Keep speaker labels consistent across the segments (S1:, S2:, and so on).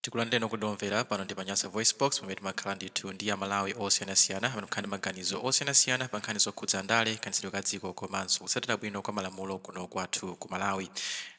S1: Tikulandireni okondedwa omvera pano ndi pa Nyasa VoiceBox pamene timakhala ndithu ndi Amalawi osiyanasiyana amene amakhala ndi maganizo osiyanasiyana pa nkhani zokhudza ndale, kayendetsedwe ka dziko komanso kutsatira bwino kwa malamulo kuno kwathu ku Malawi.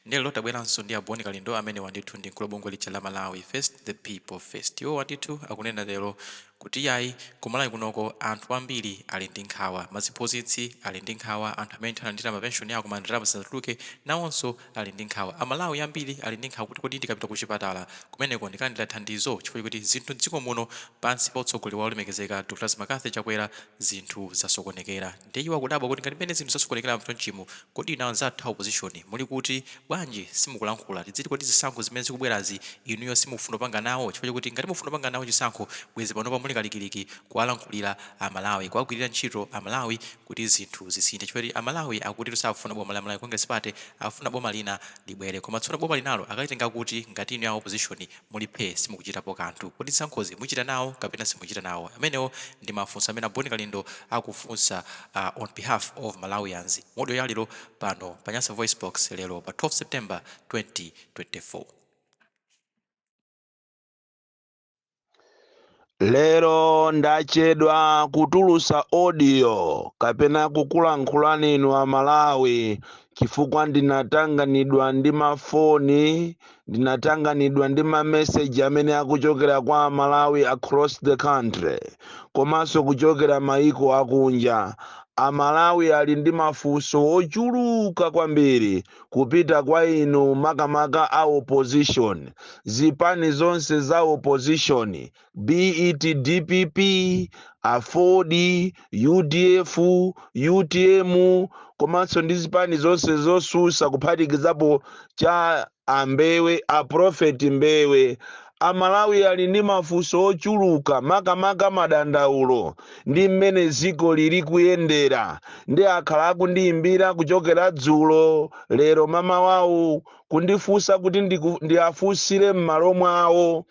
S1: Ndiye lero tabweranso ndi a Bon Kalindo amenewa ndithu ndi mkulu wa bungwe lija la Malawi First the People First. Iwowa ndithu akunena lero kuti iyayi ku Malawi kunoko anthu ambiri ali ndi nkhawa, maziphunzitsi ali ndi nkhawa, anthu amene ndithu analandira mapenshoni awo koma ndalama zisanatuluke nawonso ali ndi nkhawa. Amalawi ambiri ali ndi nkhawa kuti kodi ndikapita kuchipatala kumeneko ndikalandira thandizo chifukwa choti zinthu m'dziko muno pansi pa utsogoleri wa olemekezeka a Dr McCarthy Chakwera zinthu zasokonekera. Ndiye iwo akudabwa kuti ngati mmene zinthu zasokonekeramu chonchimu kodi inu anzathu a opposition muli kuti? Bwanji simukulankhula? Tidziti kodi zisankho zimene zikubwerazi inuyo simukufuna kupanga nawo? Chifukwa chokuti ngati mukufuna kupanga nawo chisankho bwezi panopa muli kalikiliki kuwalankhulira a Malawi, kuwagwirira ntchito a Malawi, kuti zinthu zisinthe chifukwa choti amalawi akutitu sakufuna boma la malawi congress party akufuna boma lina libwere koma tsono boma linalo akalitenga kuti ngati inuyo a opposition muli phee simukuchitapo kanthu kodi zisankhozi muchita nawo kapena simuchita nawo amenewo ndi mafunso amene a bon kalindo akufunsa on behalf of malawians mu audio ya lero pano pa nyasa voicebox lero pa 12 september 2024.
S2: lero ndachedwa kutulusa audio kapena kukulankhulani inu amalawi chifukwa ndinatanganidwa ndi mafoni ndinatanganidwa ndi mameseji amene akuchokera kwa amalawi across the country komanso kuchokera mayiko akunja amalawi ali ndi mafunso ochuluka kwambiri kupita kwa inu makamaka a opposition zipani zonse za opposition be it dpp aford udf utm komanso ndi zipani zonse zosusa kuphatikizapo cha ambewe aprofeti mbewe A Malawi ali ndi mafunso ochuluka makamaka madandaulo ndi mmene ziko lili kuyendera nde akhala akundiyimbira kuchokera dzulo, lero mamawawu kundifunsa kuti ndiafunsire mmalo mwawo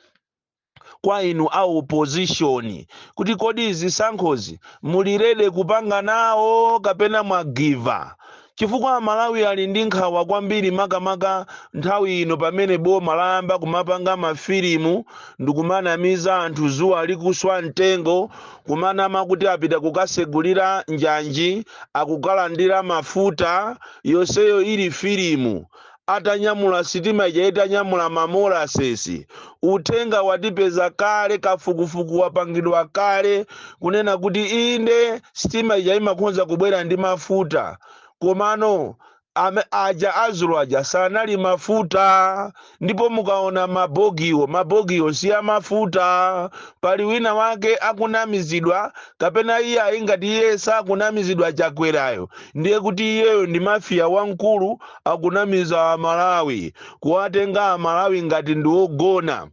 S2: kwa inu a opposition kuti kodi zisankhozi muli ready kupanga nawo kapena mwagiva? chifukwa Amalawi ali ndi nkhawa kwambiri makamaka nthawi ino pamene boma layamba kumapanga mafilimu ndikumanamiza anthu zuwa likuswa mtengo kumanama kuti apita kukasegulira njanji akukalandira mafuta yonseyo ili filimu atanyamula sitima ija itanyamula ma molasses uthenga watipeza kale kafukufuku wapangidwa kale kunena kuti inde sitima ija imakhonza kubwera ndi mafuta komano ame, aja azulu aja sanali mafuta ndipo mukaona mabogiwo mabogiwo si amafuta pali wina wake akunamizidwa kapena iye ayi ngati iye sakunamizidwa chakwerayo ndiye kuti iyeyo ndi mafiya wamkulu akunamiza a Malawi, kuwatenga a Malawi ngati ndi ogona,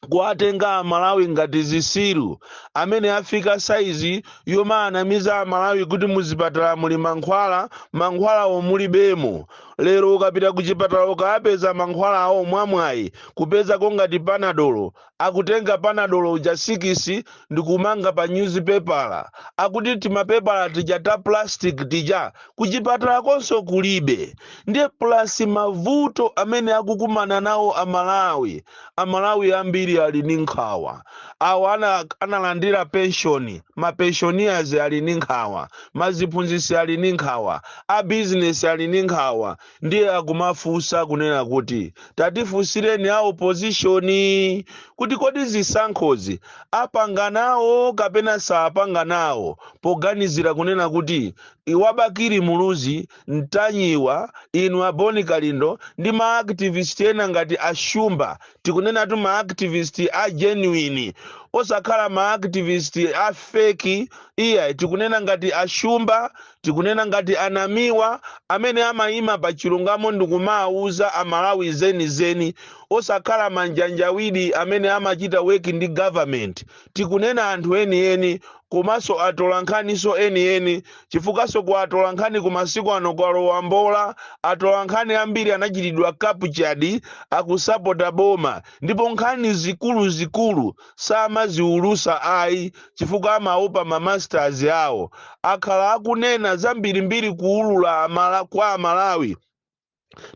S2: kuwatenga a Malawi ngati zisiru, amene afika saizi yomaanamiza a Malawi kuti muzipatala muli mankhwala, mankhwalawo mulibemo. Lero ukapita kuchipatala ukaapeza mankhwalawo mwamwayi kupezako ngati panadolo, akutenga panadolo uja sikisi ndikumanga pa nyuzipepala akuti timapepala tija ta plastic tija kuchipatalakonso kulibe ndiye plus mavuto amene akukumana nawo amalawi amalawi ambiri ali ndi nkhawa awo amene analandira penshoni mapenshoniers ali ndi nkhawa maziphunzitsi ali ndi nkhawa abizinesi ali ndi nkhawa ndiye akumafunsa kunena kuti tatifunsireni a opozishoni kuti kodi zisankhozi apanga nawo kapena saapanga nawo poganizira kunena kuti inu a Bakili Muluzi Ntanyiwa inu a Bon Kalindo ndi maaktivist ena ngati a Shumba tikunenatu maaktivist a genuine osakhala maaktivist a feki iyayi tikunena ngati a Shumba Tikunena ngati a Namiwa amene amayima pa chilungamo ndikumawuza a Malawi zeni zeni osakhala manjanjawidi amene amachita work ndi government. Tikunena anthu eni eni komaso atolankhaniso eni eni chifukwaso ku atolankhaniku masiku ano kwalowa mbola. Atolankhani ambiri anachitidwa captured akusapota boma ndipo nkhani zikulu zikulu. samaziulutsa ayi chifukwa amaopa ma masters awo akhala akunena zambirimbiri kuulula amala, kwa amalawi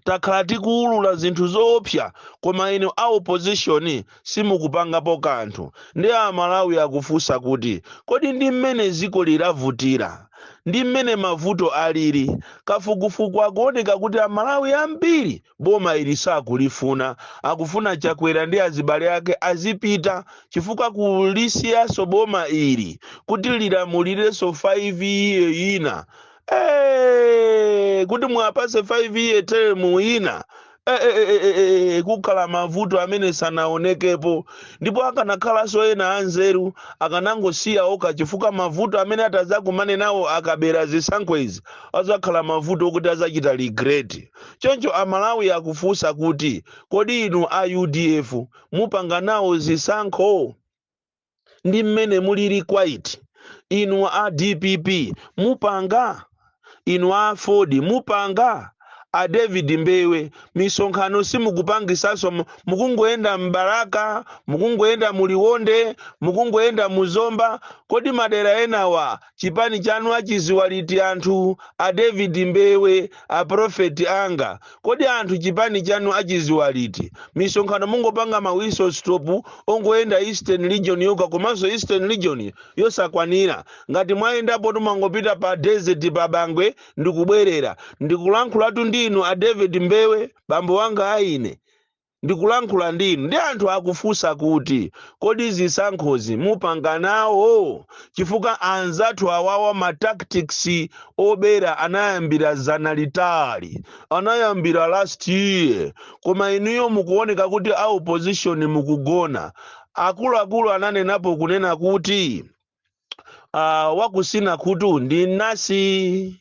S2: takhala tikuulula zinthu zoopsa koma inu a opposition simukupangapo kanthu ndiye amalawi akufunsa kuti kodi ndi mmene dziko lilavutira ndi mmene mavuto alili kafukufuku akuoneka kuti amalawi ambiri boma ili sakulifuna akufuna chakwera ndi azibale ake azipita chifukwa kulisiyaso boma ili kuti lilamulireso 5 year ina Eh, kuti muwapase 5 year term ina Eh, eh, eh, eh, eh, eh, kukhala mavuto amene sanaonekepo ndipo akanakhalanso ena anzeru akanangosiya okha chifukwa mavuto amene atazakumane nawo akabera zisankho izi azakhala mavuto okuti azachita regret Choncho Amalawi akufunsa kuti, kodi inu a udf mupanga nawo zisankho? Ndi mmene mulili quiet. Inu a dpp mupanga? Inu a aford mupanga? A David Mbewe misonkhano simukupangisanso mukungoyenda m'Balaka, mukungoyenda mu Liwonde, mukungoyenda mu Zomba. Kodi madera enawa chipani chanu achidziwa liti anthu a david mbewe a prophet anga kodi anthu chipani chanu achidziwa liti misonkhano mungopanga ma whistle stop ongoyenda eastern region yokha komanso eastern region yosakwanira ngati mwayendapo mwangopita pa desert pa bangwe ndikubwerera ndikulankhulatu ndi inu a david mbewe bambo wanga aine ndikulankhula ndi inu ndi anthu akufunsa kuti kodi zisankhozi mupanga nawo chifukwa anzathu awawa ma tactics obera anayambira dzana litali anayambira last year koma inuyo mukuoneka kuti a opposition mukugona akuluakulu ananenapo kunena kuti ah, wakutsina khutu ndi nansi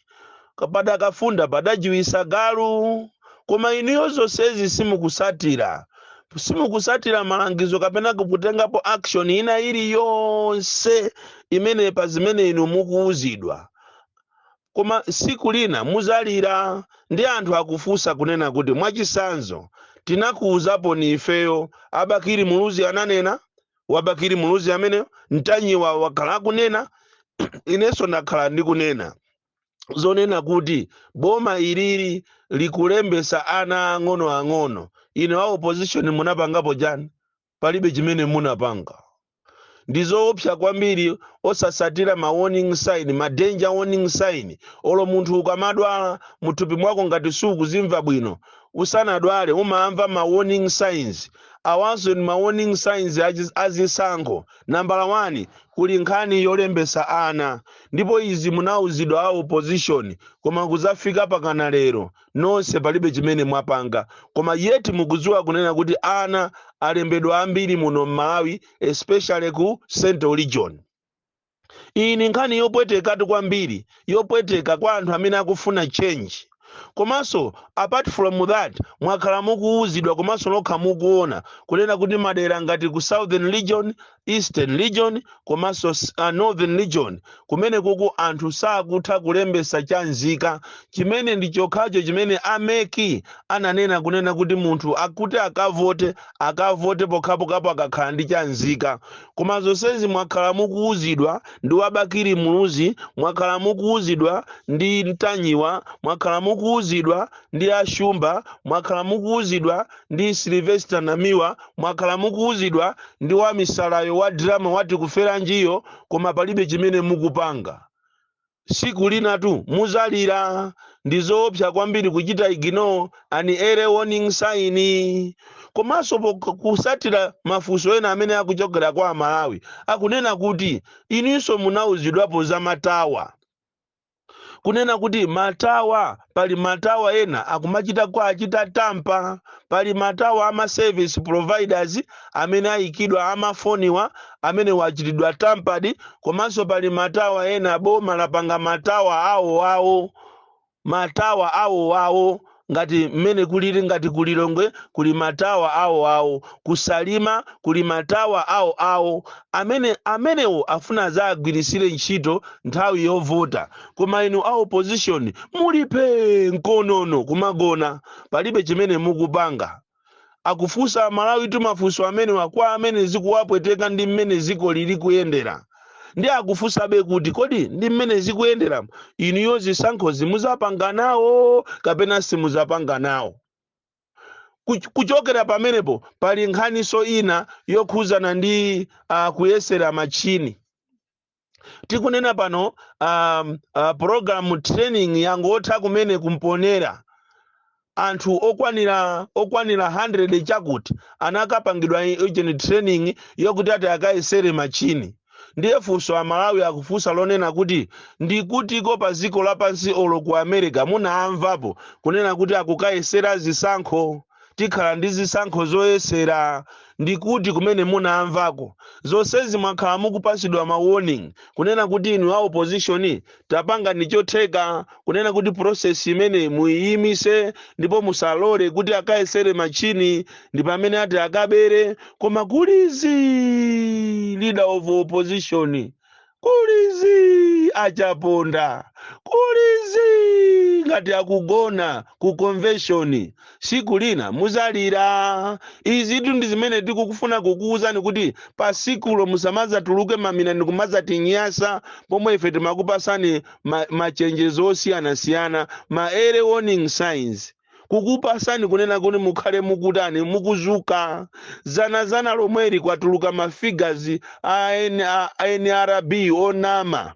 S2: padakafunda padajiwitsa galu koma inuyo zonsezi simukutsatira simukutsatira malangizo kapena kutengapo action ina iliyonse imene pa zimene inu mukuwuzidwa koma tsiku lina mudzalira ndi anthu akufunsa kunena kuti mwachitsanzo tinakuwuzaponi ifeyo a bakili muluzi ananena wa bakili muluzi amene ntanyiwa wakhala akunena inenso ndakhala ndikunena zonena kuti boma ilili likulembetsa ana ang'ono ang'ono inu a opposition munapangapo chani palibe chimene munapanga ndi zoopsa kwambiri osatsatira ma warning sign ma danger warning sign olo munthu ukamadwala muthupi mwako ngati sukuzimva bwino Usanadwale umamva ma warning signs. Awanso ndi ma warning signs a zisankho. Nambala wani, kuli nkhani yolembetsa ana. Ndipo izi munauzidwa a opposition koma kudzafika pakana lero nonse palibe chimene mwapanga. Koma yet mukudziwa kunena kuti ana alembedwa ambiri muno m'Malawi especially ku Central Region. Iyi ni nkhani yopwetekatu kwambiri, yopweteka kwa anthu amene akufuna change. Komanso apart from that mwakhala mukuwuzidwa komanso nokha mukuwona kunena kuti madera ngati ku southern region, eastern region komanso northern region kumenekuku anthu sakutha kulembetsa cha nzika chimene ndi chokhacho chimene a mec ananena kunena kuti munthu akuti akavote, akavote pokhapokhapo akakhala ndi cha nzika. koma zonsezi mwakhala mukuwuzidwa ndi wabakiri muluzi mwakhala mukuwuzidwa ndi mtanyiwa mwakhala mukuwuzidwa ndi ashumba mwakhala mukuwuzidwa ndi silvester namiwa mwakhala mukuwuzidwa ndi wamisalayo wa drama watikuferanjiyo koma palibe chimene mukupanga siku linatu muzalira ndizoopsa kwambiri kuchita ignore ani early warning sign komanso pok- kusatira mafunso ena amene akuchokera kwa amalawi akunena kuti ininso munauzidwapo za matawa kunena kuti matawa pali matawa ena akumachita kwa achita tampa pali matawa ama service providers amene ayikidwa amafoniwa amenewo achitidwa tampadi komanso pali matawa ena boma lapanga matawa awo awo ngati mmene kulili ngati kulilongwe kuli matawa awo awo kusalima kuli matawa awo awo amene amenewo afuna azagwirisire ntchito nthawi yovota koma inu a opposition muli phee mkonono kumagona palibe chimene mukupanga akufunsa amalawitu mafunso amenewa kwa amene zikuwapweteka ndi mmene dziko lili kuyendera ndi akufunsabe kuti kodi ndi mmene zikuyendera inuyo zisankho muzapanga nawo kapena simuzapanga nawo Kuch- kuchokera pamenepo pali nkhaniso ina yokhuzana ndi uh, kuyesera machini tikunena pano um, uh, program training yangotha kumene kumponera anthu okwanira okwanira 100 chakuti anakapangidwa ujeni training yokuti ati akayesere machini ndiye funso amalawi akufunsa lonena kuti ndikutiko pa dziko lapansi olo ku america munaamvapo kunena kuti akukayesera zisankho tikhala ndi zisankho zoyesera ndikuti kumene munaamvako zonsezi mwakhala mukupasidwa ma warning kunena kuti inu a opposition tapangani chotheka kunena kuti process imeneyi muyiyimise ndipo musalole kuti akayesere machini ndi pamene ati akabere koma kuli zii leader of opposition kuli zii achaponda kuli zii ngati akugona ku convention siku lina muzalira izitu ndi zimene tikukufuna kukuwuzani kuti pa sikulo musamazatuluke mamina ndi kumazatinyasa pomwe ife timakupasani ma- machenjezo osiyanasiyana ma early warning signs kukupasani kunena kuti mukhale mukutani mukuzuka zanazana lomweli kwatuluka mafigazi a nrb onama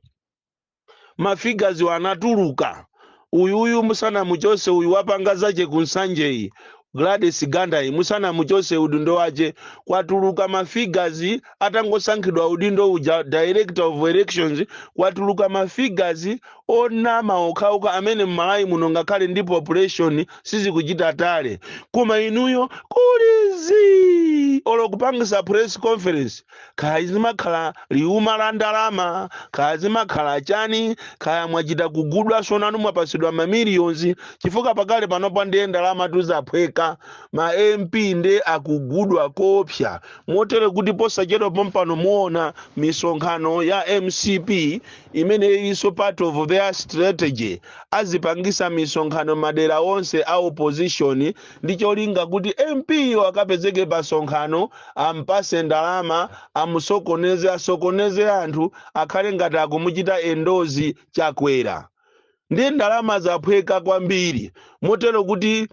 S2: mafigaziwo anatuluka uyuyu musanamuchose uyu wapanga zache kunsanjeyi gladys gandayi musanamuchose udindo wache kwatuluka mafigazi atangosankhidwa udindo uja director of elections kwatuluka mafigazi onama okhaokha amene mmalawi muno ngakhale ndi population sizikuchita tally koma inuyo kuli zii olo kupangisa press conference kaya zimakhala liuma la ndalama kaya zimakhala chani kaya mwachita kugudwaso nanu mwapasidwa mamiliyonzi chifukwa pakali panopa ndiye ndalamatu zaphweka ma mp nde akugudwa koopsa motere kuti posachedwa pompano muona misonkhano ya mcp imeneyinso part of their strategy azipangisa misonkhano madera onse a opposition ndi cholinga kuti mp yo akapezeke pa sonkhano ampase ndalama amusokoneze asokoneze anthu akhale ngati akumuchita endorse chakwera ndi ndalama zaphweka kwambiri motero kuti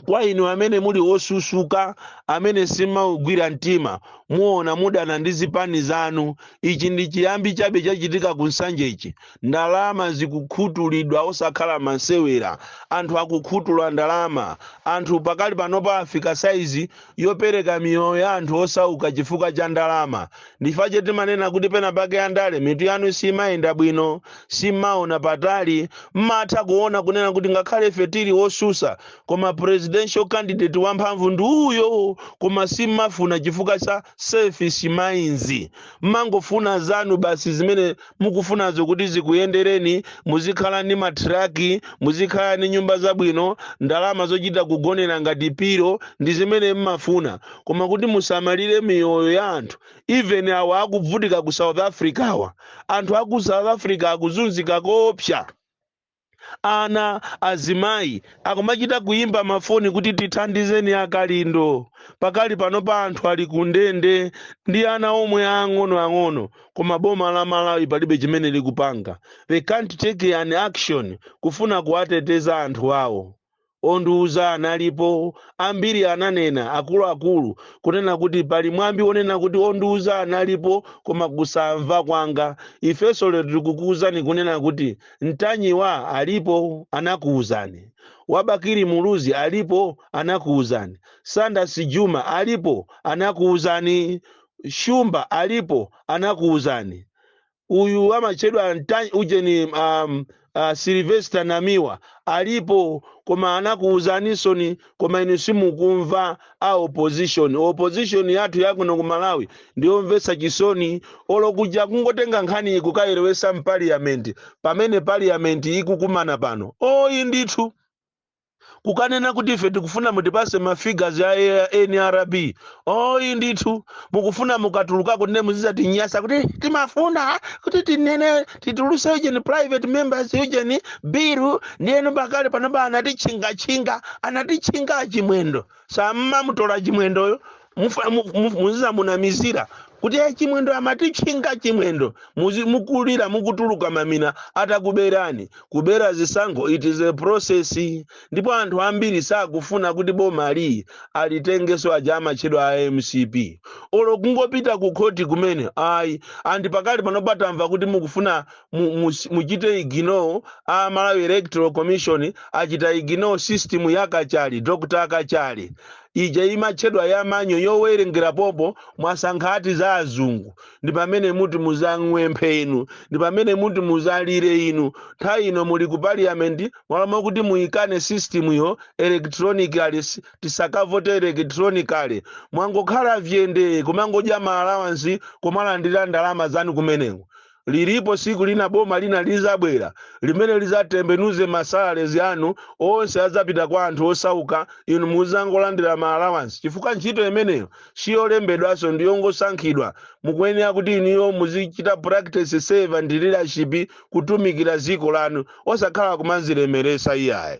S2: kwa inu amene muli osusuka amene simmaugwira mtima muona mudana ndi zipani zanu ichi ndi chiyambi chabe chachitika ku nsanjechi ndalama zikukhutulidwa osakhala masewera anthu akukhutula ndalama anthu pakali panopa afika saizi yopereka miyoyo ya anthu osauka chifukwa cha ndalama ndifache timanena kuti pena pake andale mitu yanu simayenda bwino simmaona patali mmatha kuona kunena kuti ngakhale ife tili osusa koma presidential candidate wamphamvu ndi uyo koma simmafuna chifukwa cha selfish minds mmangofuna zanu basi zimene mukufunazo kuti zikuyendereni muzikhala ndi matraki muzikhala ndi nyumba zabwino ndalama zochita kugonera ngati piro ndi zimene mmafuna koma kuti musamalire miyoyo ya anthu even awa akuvutika ku south africa awa anthu aku south africa akuzunzika koopsa Ana, azimayi akumachita kuyimba mafoni kuti tithandizeni a Kalindo. Pakali panopa anthu ali ku ndende ndi ana omwe aang'ono ang'ono koma boma la Malawi palibe chimene likupanga. They can't take an action kufuna kuwateteza anthu awo. Ondiuza analipo, ambiri ananena, akuluakulu, kunena kuti pali mwambi wonena kuti ondiuza analipo koma kusamva kwanga. Ifeso lero tikukuuzani kunena kuti Ntanyiwa alipo, anakuuzani. Wa Bakili Muluzi alipo, anakuuzani. Saunders Jumah alipo, anakuuzani. Shumba alipo, anakuuzani. uyu amatchedwa Nta- ujeni um, uh, silvester namiwa alipo koma anakuwuzanisoni koma inu simukumva a opposition opposition yathu yakuno ku malawi ndiyomvetsa chisoni olo kuja kungotenga nkhani iyi kukayilowesa mpaliyamenti pamene paliyamenti ikukumana pano ayi ndithu kukanena kuti ife tikufuna mutipase ma figures a a- nrb ayi ndithu mukufuna mukatulukako ndiye muzizatinyasa kuti timafuna kuti tinene tituluse ujeni private members ujeni biru ndiyeno pakali panopa anatitchingatchinga anatitchinga a chimwendo sammamutola chimwendoyo mufa- mu- mu- muzizamunamizira kuti "Eh, chimwendo amatitchinga chimwendo Muzi- mukulira mukutuluka mamina atakuberani kubera zisankho it is a process ndipo anthu ambiri sakufuna kuti boma ili alitengeso aja amatchedwa a mcp olo kungopita ku khoti kumene ayi andi pakali pano patamva kuti mukufuna mu- mu- muchite ignore a malawi electoral commission achita ignore system ya kachali dr kachali ija imatchedwa ya manual yowerengera pompo mwasankha ati za azungu ndi pamene muti muzang'wemphe inu ndi pamene muti muzalire inu nthawi ino muli ku parliament mmalo mwakuti muyikane systemyo electronically s- tisakavote electronically mwangokhala vyende kumangodya ma allowance kumalandira ndalama zanu kumeneko Lilipo siku lina boma lina lizabwera limene lizatembenuze ma salaries anu onse azapita kwa anthu osauka inu muzangolandira ma allowance chifukwa ntchito imeneyo siyolembedwaso ndiyongosankhidwa mukuyenera kuti inuyo muzichita practice servant leadership kutumikira ziko lanu osakhala kumazilemeresa iyayi